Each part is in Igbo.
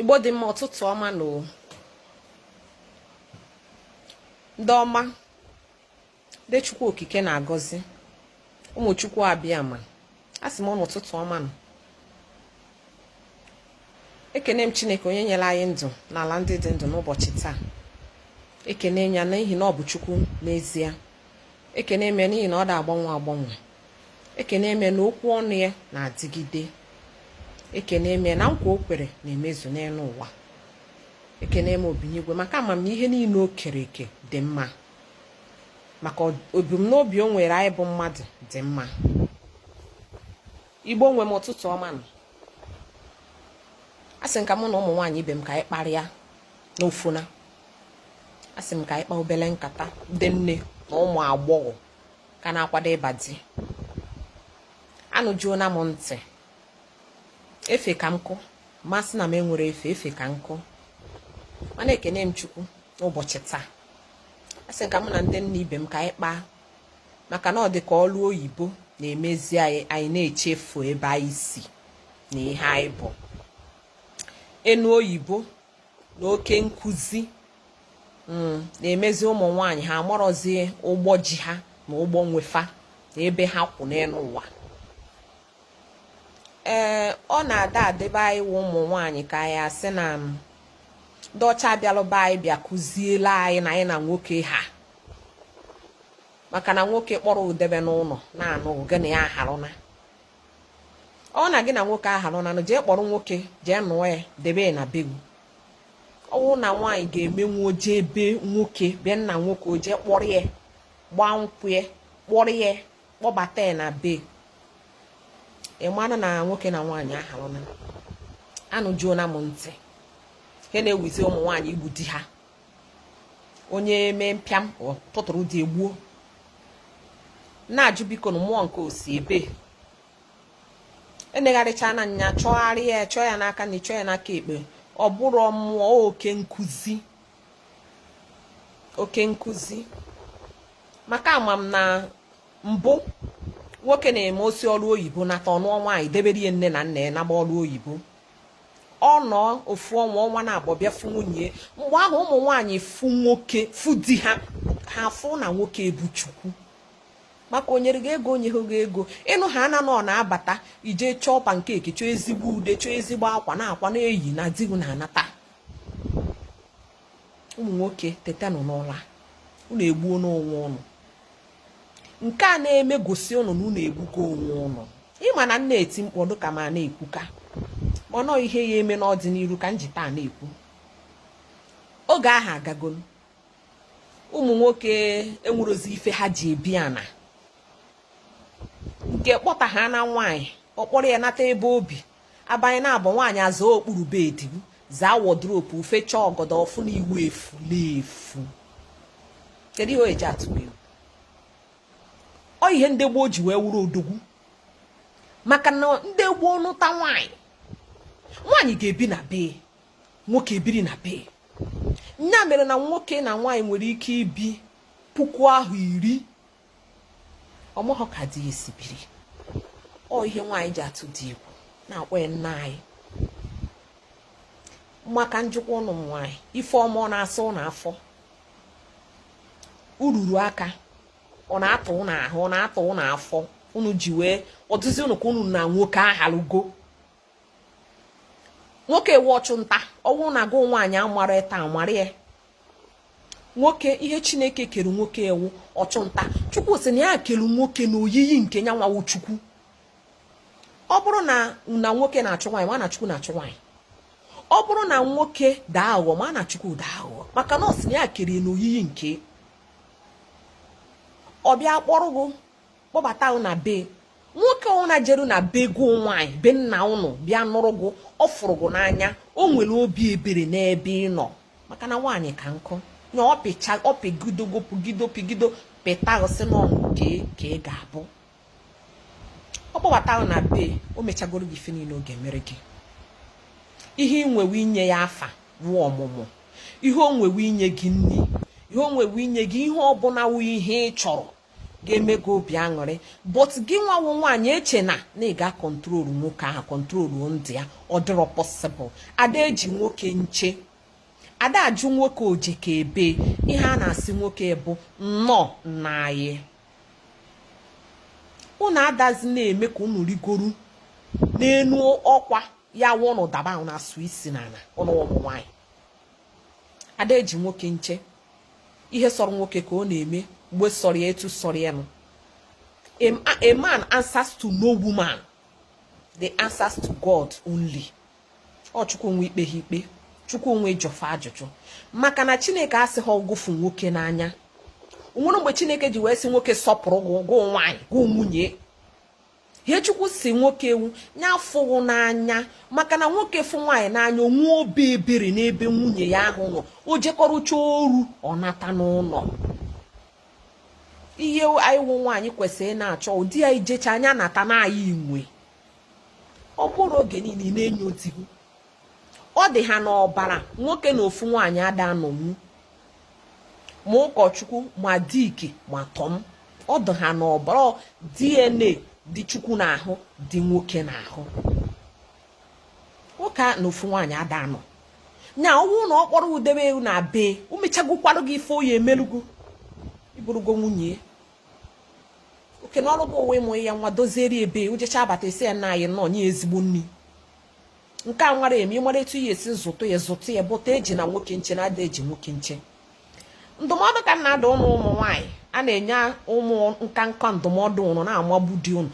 igbo dị mma ụtụtụ ọma nụ ndị ọma ndị chukwu okike na-agọzi ụmụ chukwu abịama asị m ụnụ ụtụtụ ọma nụ ekene m chineke onye nyere anyị ndụ n'ala ndị dị ndụ n'ụbọchị taa ekene ya n'ihi na ọ bụ chukwu n'ezie ekene m n'ihi na ọ da agbanwe agbanwe ekene m na okwu ọnụ ya na-adịgide ekene m na nkwa o kwere na-emezu n'elu ụwa ekene m obinigwe maka ama m ihe niile o kere eke dị mma maka ebumnobi o nwere anyị bụ mmadụ dị mma igbo nwe m ụtụtụ ọma nụ asị m ka mụ na ụmụ nwaanyị ibe m ka anyị kparịa n'ofuna asị m ka anyị kpaa obele nkata ndị nne na ụmụ agbọghọ ka na-akwado ịba di anụjuona m ntị efe ka nkụ ma asị na m nwere efe efe ka nkụ mana ekene m chukwu n'ụbọchị taa asị ka mụ na ndị nne ibe m ka anyị kpaa maka na ọ dị ka ọrụ oyibo na-emezi anyị anyị na-echefu ebe anyị si na ihe anyị bụ enu oyibo na oke nkụzi mm, na-emezi ụmụ nwaanyị ha amarọzi ụgbọ ji ha na ụgbọ nwe fa na ebe ha kwụ n'elu ụwa ee ọ na-ada adịbe anyị wụ ụmụ nwaanyị ka anyị asị na ndị ọcha abịalụ be anyị bịa kụziela anyị na anyị na nwoke ha maka na nwoke kpọrọ ụ debe n'ụlọ na-anụ gị na ya aharụna ọ wụ na gị na nwoke aharụna nụ jee kpọrọ nwoke jee nụọ ya debe na be gị ọ wụ na nwaanyị ga-emenwu o je be nwoke be nna nwoke o je kpọrọ ya gbaa nkwụ ya kpọrọ ya kpọbata ya na be ị mara na nwoke na nwaanyị aharụna anụjuona m ntị ihe na-ewuzi ụmụ nwaanyị igbu di ha onye mee mpịam tụtụrụ di ya gbuo na-ajụ bikonụ mmụọ nke o si ebee enegharịchana anya chọgharịa ya chọọ ya n'aka nri chọọ ya n'aka ekpe ọ bụrụ mmụọ oke nkụzi oke nkụzi maka ama m na mbụ nwoke na-eme o si ọrụ oyibo nata ọ nụọ nwaanyị debere nne na nna ya naba ọrụ oyibo ọ nọọ ofu ọnwa ọnwa naabọ bịa fụ nwunye mgbe ahụ ụmụ nwaanyị fụ nwoke fụ di ha ha fụ na nwoke bụ chukwu maka o nyere gị ego o nye gị ego ị nụ ha na ọ na-abata i je chọọ pankeki chọọ ezigbo ude chọọ ezigbo akwa na-akwa na-eyi na di gị na-anata ụmụ nwoke tetanụ n'ụla unu egbuona onwe ụnụ nke a na-eme gosi ụnụ na ụnụ egbugo onwe ụnụ ị ma na m na-eti mkpu ọ dị ka m na-ekwuka mana ọ ihe ya-eme n'ọdịnihu ka m ji taa na-ekwu oge ahụ agagonụ ụmụ nwoke enwerozi ife ha ji ebi ana nke kpọta ha na nwaanyị ọ kpọrọ ya nata ebe o bi abanye na be nwaanyị azaa okpuru bed zaa wardrobe fechaa ọgọdọ ọ fụ na ị wụ efu na-efu kedu ihe ọ ya-eji atụ egwu ọ ihe ndị gboo ji wee wụrụ odogwu maka na ndị gboo nụta nwaanyị nwaanyị ga-ebi na bee nwoke ebiri na bee nya mere na nwoke na nwaanyị nwere ike ibi puku ahọ iri ọ mahọ ka di ya si biri ọ ihe nwaanyị ji atụ di egwu na-akpọ ya nna anyị maka njikwa ụnụ nwaanyị ife ọma ọ na-asa ụnụ afọ ururu aka ọ na-atụ ụnụ ahụ ọ na-atụ ụnụ afọ unu ji wee ọdụzi unu ka unu na nwoke ahalugo nwoke wụ ọchụ nta ọ wụ na gụ nwaanyị amarọ taa mara ya nwoke ihe chineke kere nwoke wụ ọchụnta chukwu sị na ya kere nwoke na oyiyi nke ya nwa wụ chukwu ọ bụrụ na nwoke na-achụ nwaanyị ma na chukwu na-achụ nwaanyị ọ bụrụ na nwoke dị aghụghọ ma na chukwu dị aghụghọ maka na ọ sị na ya kere na oyiyi nke ọ bịa kpọrọ gị kpọbata na be nwoke ọwụna jeru na be gụ nwaanyị be nna ụnụ bịa nụrụ gụ ọ fụrụ gụ n'anya o nwere obi ebere n'ebe ị nọ maka na nwaanyị ka nkụ na ọpịcha ọpịgidogo pụgido pịgido pịta gụ sị n'ọnụ ka ka ị ga-abụ ọ kpọbata gụ na be o mechagoro gị ife niile ọ ga-emere gị ihe ị nwewe inye ya afa wụ ọmụmụ ihe o nwewe inye gị nri ihe o nwewe inye gị ihe ọbụla wụ ihe ị chọrọ ga-eme gị obi aṅụrị but gị nwa wụ nwaanyị eche na ị ga control nwoke ahụ control ndị ya ọ dịrọ possible ada eji nwoke nche ada ajụ nwoke o je ka ebe ihe a na-asị nwoke bụ nnọọ nna anyị unu adazi na-eme ka unu rigoru n'enu ọkwa ya wụ ụnụ daba na-asụ isi n'ala ụnụ ụmụ nwaanyị ada eji nwoke nche ihe sọrọ nwoke ka ọ na-eme mgbe sọrọ ya etu sọrọ ya nụ a man answers to no woman they answers to God only ọ chukwu nwe ikpe ha ikpe chukwu nwe ịjụ fa ajụjụ maka na chineke asịghị gụ fụ nwoke n'anya o nwere mgbe chineke ji wee sị nwoke sọpụrụ gụ nwaanyị gụ nwunye ihe chukwu si nwoke wụ ya fụ gị n'anya maka na nwoke fụ nwaanyị n'anya o nwee obi ebere n'ebe nwunye ya ahụ nọ o jekọrụcha ọrụ ọ nata n'ụlọ ihe anyị wụ nwaanyị kwesịrị na-achọ wụ di ya jecha ya nata na anyị nwe ọ bụrụ oge niile na-enyo di gị ọ dị ha n'ọbara nwoke na ofu nwaanyị ada anọnwu ma ụkọchukwu ma dick ma tom ọ dị ha n'ọbara DNA dị chukwu n'ahụ dị nwoke n'ahụ nwoke na ofu nwaanyị ada anọ nya wụ na ọ kpọrọ gị debe gị na be o mechagokwarụ gị ife ọ ya-emelu gị ị bụrụgo nwunye oke na ọrụ gị wụ ịmụ ya nwa doziere ebe o jecha abata esi ya na anyị nọ nye ezigbo nri nke a nwara eme ị mara etu ị ya-esi zụtụ ya zụtụ ya bụta ejina nwoke nche na ada eji nwoke nche ndụmọdụ ka m na-adụ ụnụ ụmụ nwaanyị a na-enye ụmụ nka nka ndụmọdụ ụnụ na-amagbu di ụnụ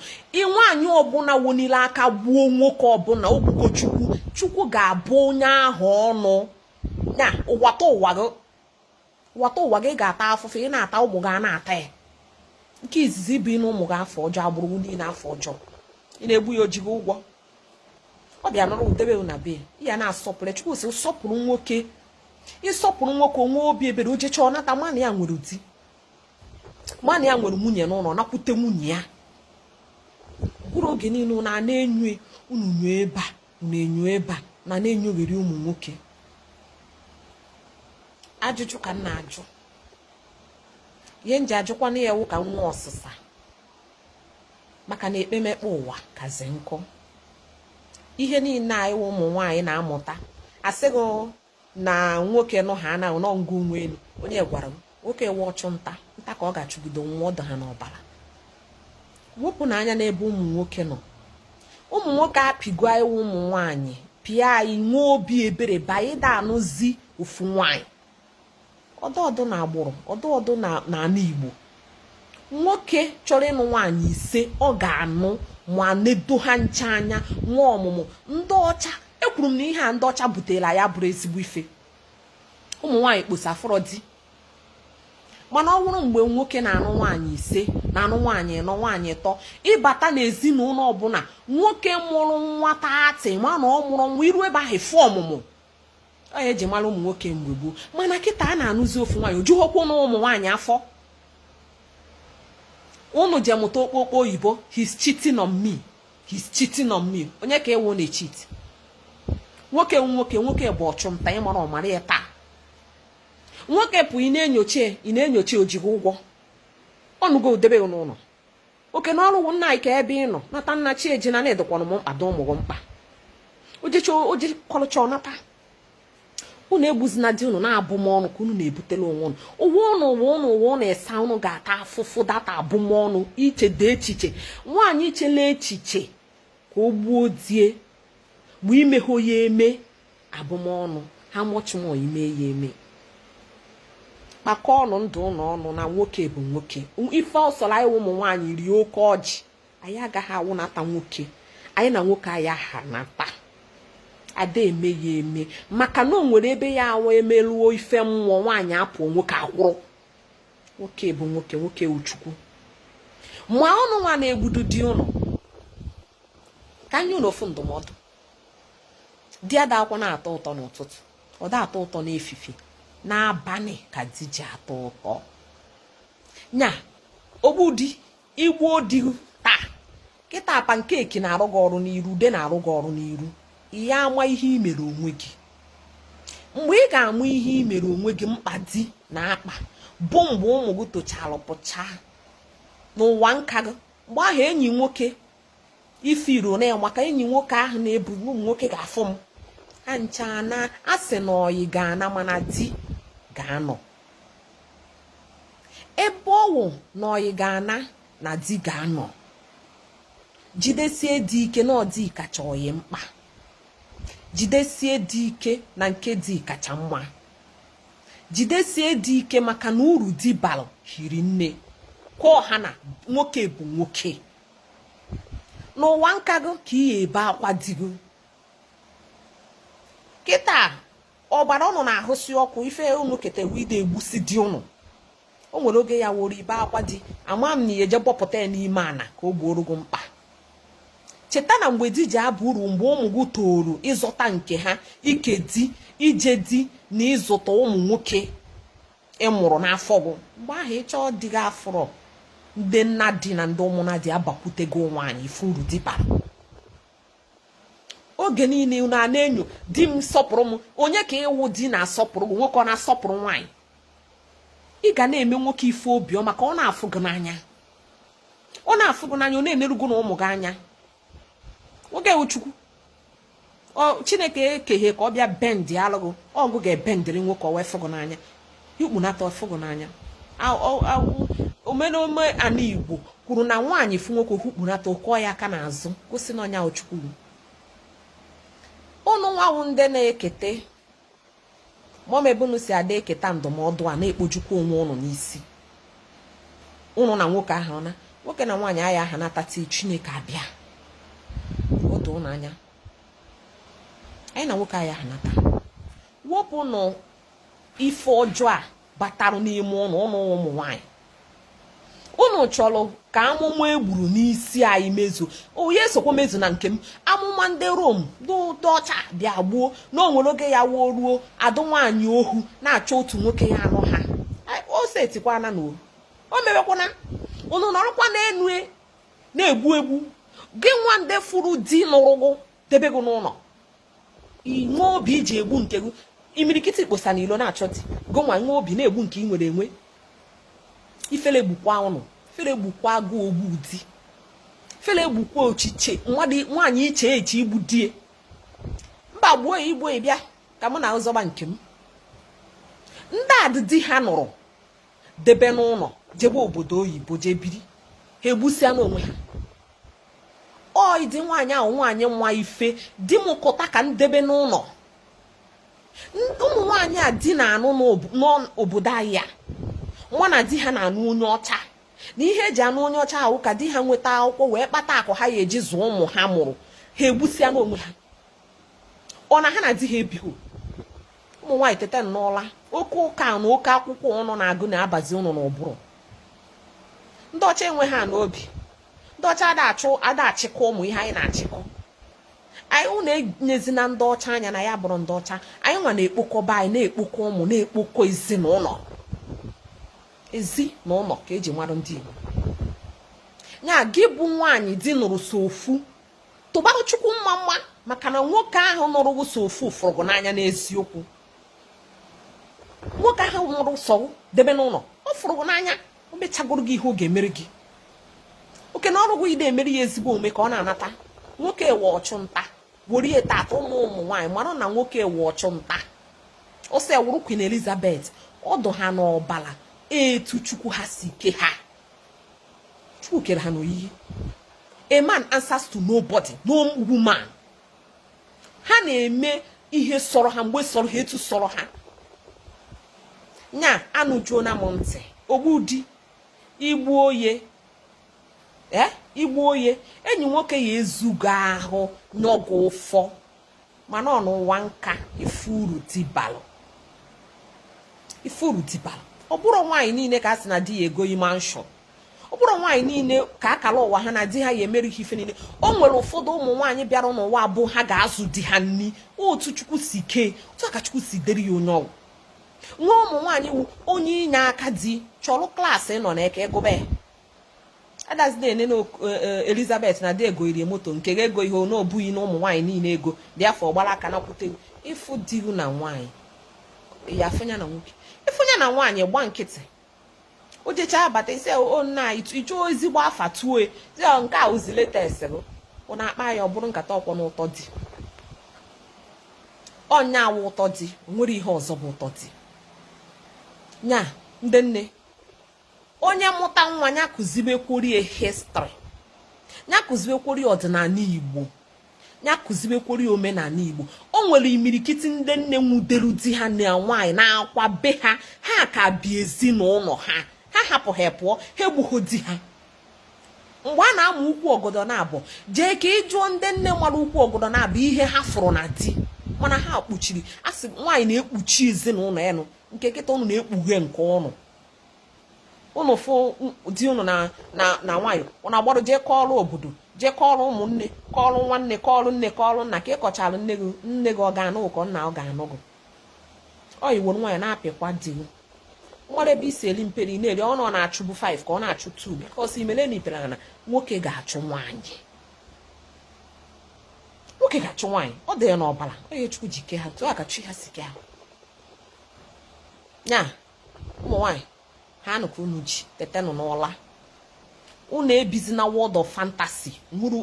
nwaanyị ọbụla wenili aka gbuo nwoke ọbụla o gbugo chukwu chukwu ga-abụ onye ahụ ọnụ na ụwatụwa ụwatụwa gị ga-ata afụfụ ị na-ata ụmụ gị a na-ata ya nke izizi bụ inye ụmụ gị afa ọjọọ agbụrụ niile afa ọjọọ ị na-egbu ya o ji gị ụgwọ ọ bịa nụrụ gị debe na be ya na-asọpụrụ chukwu si sọpụrụ nwoke ị sọpụrụ nwoke o nwee obi ebere o jecha ọ nata mana ya nwere di mana ya nwere nwunye n'ụlọ nakwute nwunye ya ọ bụrụ oge niile unu na-enyo unu enyo ebe a na-enyo ebe a na na-enyogheri ụmụ nwoke ajụjụ ka m na-ajụ ihe m ji ajụkwanụ ya wụ ka m nwee ọsịsa maka na ekpemekpe ụwa kazi nkọ ihe niile anyị ụmụ nwaanyị na-amụta asịghị na nwoke nụ ha anaghị nọ ngụ nwa elu onye gwara gị nwoke wụ ọchụ nta nta ka ọ ga-achụgide nwụọ ọ dụ ha n'ọbara wepụnụ anya n'ebe ụmụ nwoke nọ ụmụ nwoke apịgo anyị ụmụ nwaanyị pịa anyị nwee obi ebere banyị da anụzi ofu nwaanyị ọdụ ọdụ na agbụrụ ọdụ ọdụ na ala igbo nwoke chọrọ ịnụ nwaanyị ise ọ ga-anụ ma nedo ha ncha anya nwee ọmụmụ ndị ọcha ekwuro m na ihe a ndị ọcha butela ya bụrụ ezigbo ife ụmụ nwaanyị kposa afụrọ di mana ọ bụrụ mgbe nwoke na-anụ nwaanyị ise na-anụ nwaanyị ịnọ nwaanyị ịtọ ị bata n'ezinụlọ ọbụla nwoke mụrụ nwa thirty ma na ọ mụrụ nwa i ru ebe ahụ fụ ọmụmụ ọ ya eji mara ụmụ nwoke mgbe gboo mana kịta a na-anụzi ofu nwaanyị o jughokwanu ụmụ nwaanyị afọ unu je mụta okpokpo oyibo he's cheating on me he's cheating on me onye ka ewu na-echeat nwoke nwoke nwoke bụ ọchụnta ị marọ mara ya taa nwoke pụ ị na-enyocha ị na-enyocha o ji gị ụgwọ ọ nụgo gị debe n'ụlọ oke na ọrụ nna anyị ka ebe ị nọ nata nna chi eji na na-edokwanụ m mkpa dị ụmụ gị mkpa o jekọlụcha ọ nata unu egbuzina di unu na abụmọnụ ka unu na-ebutela onwe unu ụwa ụnụ esa ụnụ ga-ata afụfụ data abụmọnụ ichede echiche nwaanyị ichela echiche ka o gbuo die mgbe imeghe ya eme abụmọnụ how much more ime ya eme kpakọọ ọnụ ndụ ụnụ ọnụ na nwoke bụ nwoke ife ọ sọrọ anyị ụmụ nwaanyị rie oke ọjị anyị agaghị awụnata nwoke anyị na nwoke anyị ahanata ada eme ya eme maka na o nwere ebe ọ ya-awụ emeruo ife mmụọ nwaanyị apụọ nwoke akwụrụ nwoke bụ nwoke nwoke wụ chukwu ma ụnụ nwa na-egbudu di ụnụ ka m nye ụnụ ofu ndụmọdụ di adakwa na-atọ ụtọ n'ụtụtụ ọ da atọ ụtọ n'efife n'abalị ka di ji atọ ụtọ nya ogbu di i gbuo di taa kịta pancake na-arụ gị ọrụ n'iru ude na-arụ gị ọrụ n'iru ị ya-ama ihe i mere onwe gị mgbe ị ga-ama ihe i mere onwe gị mkpa di na-akpa bụ mgbe ụmụ gị tochara pụchaa n'ụwa nka gị mgbe ahụ enyi nwoke ifiro na maka enyi nwoke ahụ na-ebu ụmụ nwoke ga-afụ m ha ncha a sị na oyi ga-ana mana di ga-anọ ebe ọ wụ na oyi ga-ana na di ga-anọ jidesie di ike na ọ di kacha oyi mkpa jidesie di ike na nke di kacha mma jidesie di ike maka na uru di balụ hiri nne ka ọ ha na nwoke bụ nwoke n'ụwa nka gị ka ị ya-ebe akwa di gị kịta ọbara ụnụ na-ahụsi ọkụ ife ụnụ ketewu ide egbusi di ụnụ o nwere oge ya woro ibe akwa di ama m na ị ya-eje bọpụta ya n'ime ana ka o gboro gị mkpa cheta na mgbe di ji aba uru mgbe ụmụ gị tooru ịzụta nke ha ike di ije di na ịzụta ụmụ nwoke ị mụrụ n'afọ gị mgbe ahụ ị chọọ di gị afụrọ ndị nna di na ndị ụmụna di abakwute gị nwaanyị ife uru di bara oge niile unu a na-enyo di m sọpụrụ m onye ka ị wụ di na-asọpụrụ gị nwoke ọ na-asọpụrụ nwaanyị ị ga na-eme nwoke ife obiọma ka ọ na-afụ gị n'anya ọ na-afụ gị n'anya ọ na-eneru gị na ụmụ gị anya nwoke wụ chukwu chineke ekeghe ka ọ bịa bendịalụ gị ọ gị ga-ebendịrị nwoke ọ wee fụ gị n'anya hukpunata ọ fụ gị n'anya omenome ana igbo kwuru na nwaanyị fụ nwoke hukpunata ọ kụọ ya aka n'azụ gosi na onye wụ chukwu ụnụ nwa wụ ndị na-ekete mọm ebe unu si ada eketa ndụmọdụ a na-ekpojukwa onwe ụnụ n'isi ụnụ na nwoke ha na nwoke na nwaanyị ya aha nhata chineke abịa otu ụnụ anya anyị na nwoke ya aha nhata wepụnụ ife ọjọọ a batarụ n'ime ụnụ ụnụ ụmụ nwaanyị ụnụ chọrọ ka amụma e gburu n'isi anyị mezu onye esokwa mezu na nke m amụma ndị Rom ndị ọcha bịa gbuo na o nwere oge ya wụ o ruo a dụ nwaanyị ohu na-achọ otu nwoke ya anụ ha o setikwana na o mewekwana ụnụ nọrọkwa n'enu e, na-egbu egbu gị nwa ndị fụrụ di nụrụ gụ debe gị n'ụlọ inwe obi iji egbu nke gị imirikiti kpọsa n'ilo na-achọ di gụ nwa nwe obi na-egbu nke ị nwere enwe ifele gbukwa ụnụ ifele gbukwa gụ ogbu di ifele gbukwa echiche nwaanyị iche echiche igbu di e mba gbuo ya i gbuo ị bịa ka mụ na ị zọba nke m ndị a di di ha nụrụ debe n'ụlọ jebe obodo oyibo jee biri ha egbusịana onwe ha ụdị nwaanyị wụ nwaanyị ma ife di m kụta ka m debe n'ụlọ ụmụ nwaanyị a di na-anụ n'obodo anyị a nwa na di ha na-anụ onye ọcha na ihe e ji anụ onye ọcha wụ ka di ha nweta akwụkwọ wee kpata akụ ha ya eji zụọ ụmụ ha mụrụ ha egbusịana onwe ha ọ na ha na di ha ebighị ụmụ nwaanyị tete n'ụla oke ụka na oke akwụkwọ ụnụ na-agụ na-abazi ụnụ n'ụbụrụ ndị ọcha enwe ha n'obi ndị ọcha ada achịkọ ụmụ ihe anyị na-achịkọ anyị ụnụ enyezina ndị ọcha anya na ya bụrụ ndị ọcha anyị nwa na-ekpokọba anyị na-ekpokọ ụmụ na-ekpokọ ezinụlọ ezi na ụlọ ka e ji mara ndị Igbo nya gị bụ nwaanyị di nụrụ sọ ofu tụbara chukwu mmamma maka na nwoke ahụ nụrụ gị sọ ofu fụrụ gị n'anya n'eziokwu nwoke ahụ nụrụ sọ debe n'ụlọ ọ fụrụ gị n'anya o mechagoro gị ihe ọ ga-emere gị oke na ọrụ gị i de emere ya ezigbo omume ka ọ na-anata nwoke wụ ọchụ nta were ya tata ụmụ ụmụ nwaanyị mara na nwoke wụ ọchụ nta ọ sọ e wụrụ Queen Elizabeth ọ dụ ha n'ọbala etu chukwu ha si ke ha Chukwu kere ha n'oyiyi a man answers to nobody no woman ha na-eme ihe sọrọ ha mgbe sọrọ ha etu sọrọ ha nya anụjuona m ntị ogbu di igbu ọyị ee eh, igbu ọyị enyi nwoke ya ezugo ahụ n'ọgụ ụfọ mana ọ n'ụwa nka ị fụrụ di ba lụọ ị fụrụ di ba lụọ ọ bụrọ nwaanyị niile ka a sị na di ya ego mansion ọ bụrọ nwaanyị niile ka akala ụwa ha na di ha ya emere ife niile o nwere ụfọdụ ụmụ nwaanyị bịara n'ụwa a bụ ha ga-azụ di ha nni otu chukwu si kee otu aka chukwu si dere ya onye ọgwụ nwa ụmụ nwaanyị wụ onye inye aka di chọrọ class ị nọ na eke gụba adazina ene na e, e, elizabeth na di egorie moto nke ga ego ihe na ọ bụghị na ụmụ nwaanyị niile ego dị afọ gbara aka na kwute ị fụ di gị na nwaanyị ya afụ nya na nwoke ị fụ nya na nwaanyị gba nkịtị o jechaa abata ị sị o oh, nna ị chọọ ezigbo afa tuo oh, nke a ozi latest bụ ụna akpa ya ọ bụrụ nkata ọkwọ na ụtọ di ọ nya wụ ụtọ di o nwere ihe ọzọ bụ ụtọ di nya ndị nne onye mụta nwa ya kụziwekworie history ya kụziwekworie ọdịnala igbo ya kụziwekworie omenala igbo o nwere imirikiti ndị nne nwudelu di ha na nwaanyị na-akwa be ha ha ka bi ezinụlọ ha ha hapụ ha pụọ ha egbughọ di ha mgbe a na-ama ukwu ọgọdọ naabọ jee ka ị jụọ ndị nne mara ukwu ọgọdọ naabọ ihe ha fụrụ na di mana ha kpuchiri a sị nwaanyị na-ekpuchi ezinụlọ ya ụnụ nke kịta ụnụ na-ekpughe nke ụnụ ụnụ fụ di ụnụ na nwaanyị ụnụ agbarụ jee kọọrụ obodo jee kọọrụ ụmụnne kọọrụ nwanne kọọrụ nne kọọrụ nna ka ị kọchara nne gị nne gị ọ ga-anụ ị kọọ nna ọ ga-anụ gị ọ iwo nwaanyị na-apịkwa di gị nwere ebe i si eli mperi na-eri ọnụ ọ na-achụbu 5 ka ọ na-achụ 2 because imele mipere na nwoke ga-achụ nwaanyị nwoke ga-achụ nwaanyị ọ dị ya n'ọbara ọ nya chukwu ji kee ha otu aka chi ha si kee ha ya ụmụ nwaanyị ha anụ ka unu ji tetenụ n'ụla unu ebizi na world of fantasy nwụrụ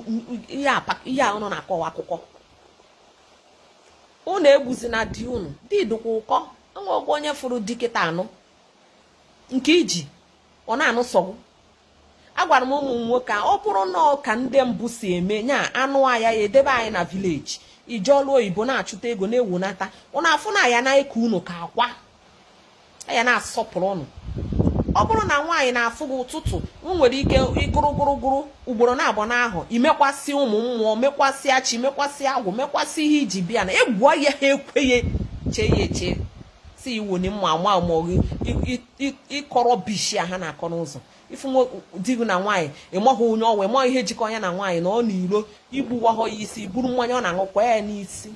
ihe a unu na-akọwa akụkọ unu egbuzina di unu di dịkwa ụkọ enwe ọgwụ onye fụrụ di kịta a nụ nke i ji ọ na-anụ sọ gụ agwara m ụmụ nwoke a ọ bụrụ na ọ ka ndị mbụ si eme nya anụ anyị ya edebe anyị na village jee ọlụ oyibo na-achụta ego na-ewunata ụnọ a fụ na anyị na-eke unu ka akwa anyị na-asọpụrụ ụnụ ọ bụrụ na nwaanyị na-afụ gị ụtụtụ nwere ike ịgụrụ gụrụgụrụ ugboro naabọ n'ahọ i mekwasị ụmụ mmụọ mekwasịa chi mekwasị agwụ mekwasị ihe i ji bịa na egwuo ya ha ekweghị chee ya eche si iwu ni mma ma ma gị ịkọ rubbish ha na-akọ n'ụzọ ị fụ di gị na nwaanyị ị maghị onye ọ wụ ị maghị ihe jikọrọ ya na nwaanyị na ọ na iro i gbuwahọ ya isi buru mmanya ọ na-aṅụ kwaa ya n'isi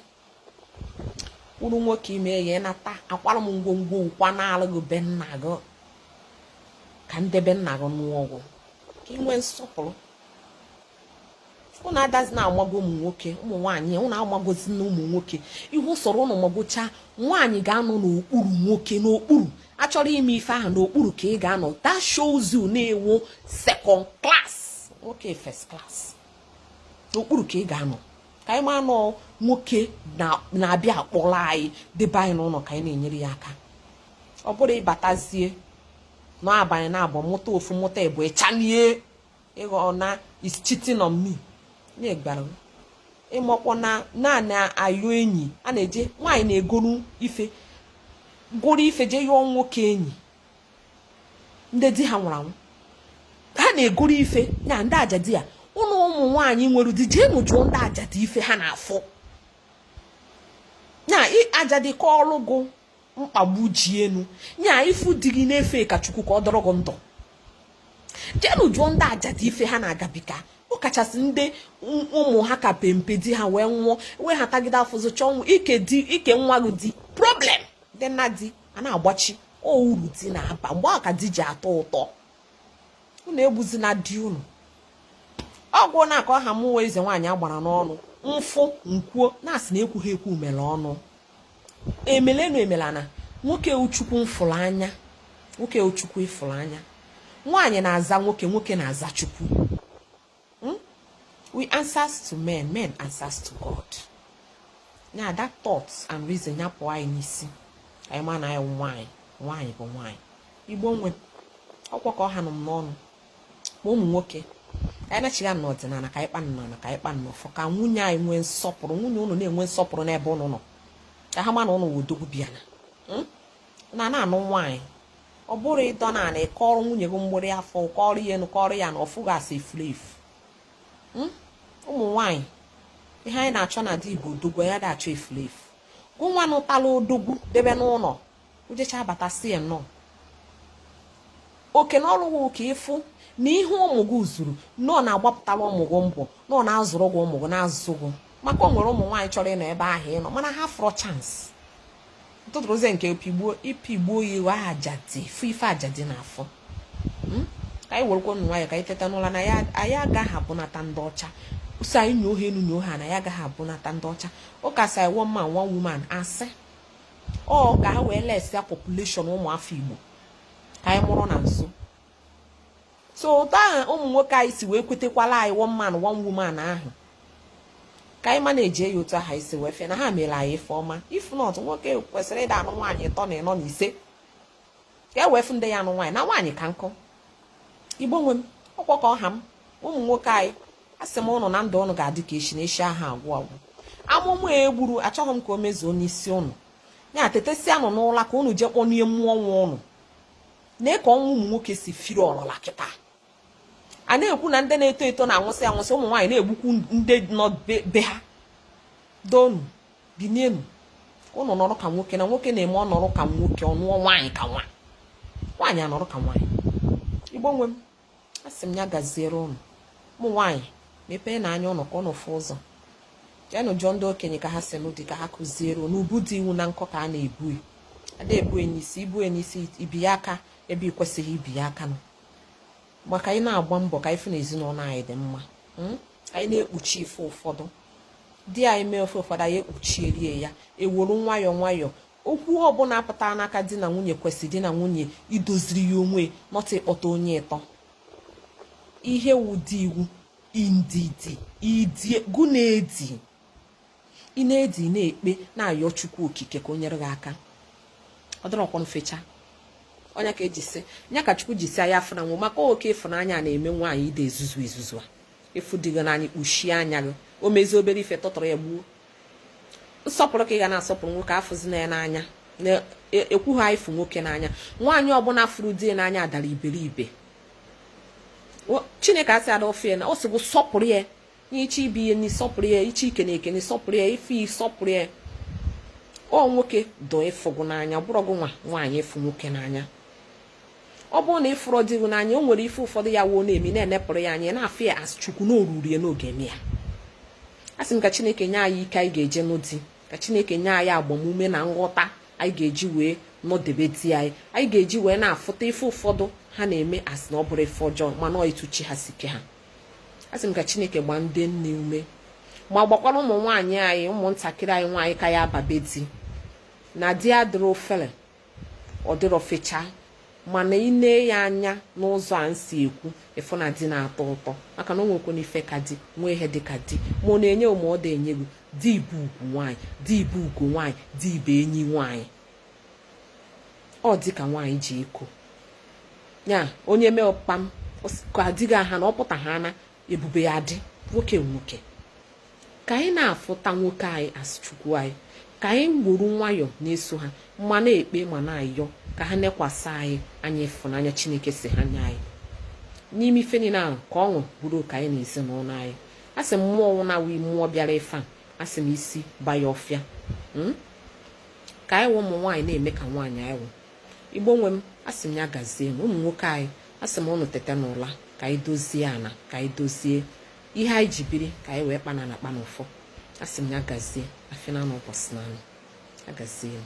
uru nwoke i mee ya ị nata akwara m ngwongwo gụ kwanaalụ gị be nna gị ka ndị be nna gị nụọ gụ ka i nwee nsọpụrụ ụnụ adazi na-amago ụmụ nwoke ụmụ nwaanyị ụnụ amagozi na ụmụ nwoke ihe sọrọ ụnụ magochaa nwaanyị ga-anọ n'okpuru nwoke n'okpuru a chọrọ ime ife ahụ n'okpuru ka ị ga-anọ that shows you na ị wụ second class nwoke first class n'okpuru ka ị ga-anọ ka anyị ma na ọ nwoke na-abịa akpọrọ anyị debe anyị n'ụlọ ka anyị na-enyere ya aka ọ bụrụ ị batazie na-abanye na abụ mụta ofu mụta ịbụọ ị chanie ịghọ na he's cheating on me na-egbara ị makwa na nwaanyị ayọ enyi a na-eje nwaanyị na-egoro ife goro ife jee yọọ nwoke enyi ndị di ha nwụrụ anwụ ha na-egoro ife na ndị ajadi a ụnụ ụmụ nwaanyị nwere di jeenụ jụọ ndị ajadi ife ha na-afụ na ajadi kọọlụ gụ mkpagbu ji enu nye a ị fụ di gị na-efe ka chukwu ka ọ dụrụ gị ndụ jeenụ jụọ ndị ajadu ife ha na-agabiga ọkachasị ndị ụmụ ha ka pempe di ha wee nwụọ wee ha tagide afụfụ chọọ nwa ike di ike nwa gị di problem dị na di a na-agbachi o uru di na-aba mgbe ahụ ka di ji atọ ụtọ unu egbuzina di unu ọgwụ na aka ọha mụwa eze nwaanyị agbara n'ọnụ m fụ m kwuo na a sị na ekwughị ekwu mere ọnụ emele enu emele ana nwoke wụ chukwu m fụrụ anya nwoke wụ chukwu ị fụrụ anya nwaanyị na-aza nwoke nwoke na-aza chukwu hmm? we answers to men men answers to God na that thoughts and reason ya pụọ anyị n'isi anyị ma na anyị nwaanyị nwaanyị bụ nwaanyị igbo nwe okwu kọ ọha nọ m n'ọnụ ma ụmụ nwoke anyị nachigha na ọdịnala ka anyị kpa nnọnọ ka anyị kpa nnọọ fọ ka nwunye anyị nwee nsọpụrụ nwunye ụnụ na-enwe nsọpụrụ n'ebe ụnụ nọ ka ha ma na ụnụ wụ odogwu bịa na hmm? na na-anụ nwaanyị ọ bụrụ ị dọ na ana ị kọrọ nwunye gị mgbịrị afọ kọrọ ya enu kọrọ ya ana ọ fụ gị as a efuru efu hmm? ụmụ nwaanyị ihe anyị na-achọ na di bụ odogwu anyị ada achọ efuru efu gụnwa nụtala odogwu debe n'ụlọ o jechaa bata sị ya nnọọ oke na ọlụ ka ị fụ na ihe ụmụ gị zuru na ọ na-agbapụtara ụmụ gị mbọ na ọ na-azụrụ gị ụmụ gị na-azụ gị maka o nwere ụmụ nwaanyị chọrọ ịnọ ebe ahụ ịnọ mana ha fụrọ chance ntụtụrụzie nke pịgbuo ị pịgbuo ya ị wụ ajadi fụ ife ajadi na-afụ hmm? ka anyị werekwanụ nwayọ ka anyị teta n'ụla na anyị agaghị abụnata ndị ọcha ọ sọ anyị nyo ha enu nyo ha ana anyị agaghị abụnata ndị ọcha ụka sị one man one woman asị ọ ka ha wee lesia population ụmụ afọ Igbo ka anyị mụrụ na nso so otu ahụ ụmụ nwoke anyị si wee kwetekwala anyị one man one woman ahụ ka anyị ma na e ji ya otu ahụ si wee fụ na ha mere anyị ife ọma if not nwoke kwesịrị ịda anụ nwaanyị ịtọ na ịnọ na ise ka e wee fụ ndị ya anụ nwaanyị na nwaanyị ka nkọ igbo nwe m ọkwa ka ọ ha m ụmụ nwoke anyị a sị m ụnụ na ndụ ụnụ ga-adị ka echi na echi aha agwụ agwụ amụma e gburu achọghị m ka o mezuo n'isi ụnụ ya tetesịa nụ n'ụla ka ụnụ jee kpọnie mmụọ nwa ụnụ na ka ọnwụ ụmụ nwoke si firi ọrọla kịta a na-ekwu na ndị na-eto eto na-anwụsị anwụsị ụmụ nwaanyị na-egbukwu ndị nọ be ha donu binienu ka ụnụ nọrọ ka nwoke na nwoke na-eme ọ nọrọ ka nwoke ọ nụọ nwaanyị ka nwa nwaanyị anọrọ ka nwaanyị igbo nwe m asị m ya gaziere ụnụ ụmụ nwaanyị mepeenụ anya ụnụ ka ụnụ fụ ụzọ jeenụ jụọ ndị okenye ka ha si nụ di ka ha kụziere ụnụ ibu di wụ na nkọ ka a na-ebu e. a da-ebu e n'isi i bu e n'isi i bi ya aka ebe ị kwesịghị ibi ya aka nọ ma ka anyị na-agba mbọ ka anyị fụ na ezinụlọ anyị dị mma hmm? anyị na-ekpuchi ife ụfọdụ di anyị mee ife ụfọdụ anyị ekpuchiere ya ewuru nwayọọ nwayọọ okwu ọbụla pụta n'aka di na nwunye kwesịrị di na nwunye idoziri ya onwe nọta ịkpọta onye ịtọ ihe wụ di wụ ndidi i die gụ na-edi ị na-edi ị na-ekpe na-ayọ chukwu okike ka o nyere gị aka ọ dịrọkwanụ fecha ọ nya ka e ji sị nya ka chukwu ji sị anyị afụna nwa maka oke ịfụnanya na-eme nwaanyị ide ezuzu ezuzu a ịfụ di gị n'anya kpuchie anya gị o mezie obere ife tọtọrọ ya gbuo nsọpụrụ ka ị ga na-asọpụrụ nwoke afụzina ya n'anya na-ekwughị e, anyị fụ nwoke n'anya nwaanyị ọbụla fụrụ di n'anya dara iberibe chineke asị ada ofe na ọ sị gị sọpụrụ ya ichi ibi ya n'isọpụrụ ya ichi ike na eke n'isọpụrụ ya ife isọpụrụ ya ọ nwoke dụ ịfụ gụ n'anya ọ bụrọ gị nwa nwaanyị ịfụ nwoke n'anya ọ bụrụ na ị fụrọ di gị n'anya o nwere ife ụfọdụ ya wụ ọ na-eme ị na-enepụrụ ya anya na-afụ ya as chukwu na oruru ya n'oge eme ya a sị m ka chineke nye anyị ike anyị ga-eji nụ di ka chineke nye anyị agbamume na nghọta anyị ga-eji wee nọdebe di anyị anyị ga-eji wee na-afụta ife ụfọdụ ha na-eme asị na ọ bụrọ ife ọjọọ mana ọ etu chi ha si kee ha asị m ka chineke gbaa ndị nne ume ma gbakwara ụmụ nwaanyị anyị ụmụntakịrị anyị nwaanyị ka ya-aba be di na di adịrọ ọfele ọ dịrọ fecha mana ị nee ya anya n'ụzọ a m si ekwu ị fụ na di na-atọ ụtọ maka na o nwekwana ife ka di nwee ihe dị ka di ma ọ na-enye ma ọ da-enye gị di bụ ugwu nwaanyị di bụ ugo nwaanyị di bụ enyi nwaanyị ọ di ka nwaanyị ji eko ya onye mee ọkpam ka adịghị aha na ọ pụta ha na ebube ya dị nwoke nwoke ka anyị na-afụta nwoke anyị as chukwu anyị ka anyị weru nwayọọ na-eso ha ma na-ekpe ma na-ayọ ka ha nekwasị anyị anya ịfụnanya chineke si ha nye anyị n'ime ife niile ahụ ka ọṅụ bụrụ nke anyị na ezinụlọ anyị a sị m ọ wụ na ọ wụ mmụọ bịara ife a asị m isi ba ya ọfịa hmm? ka anyị wụ ụmụ nwaanyị na-eme ka nwaanyị anyị wụ igbo nwe m asị m ya gazie m ụmụ nwoke anyị asị m ụnụ tete n'ụla ka anyị dozie ana ka anyị dozie ihe anyị ji biri ka anyị wee kpana na kpana ụfọ asị m ya gazie afịa n'anọ ụbọsị n'anọ agazie m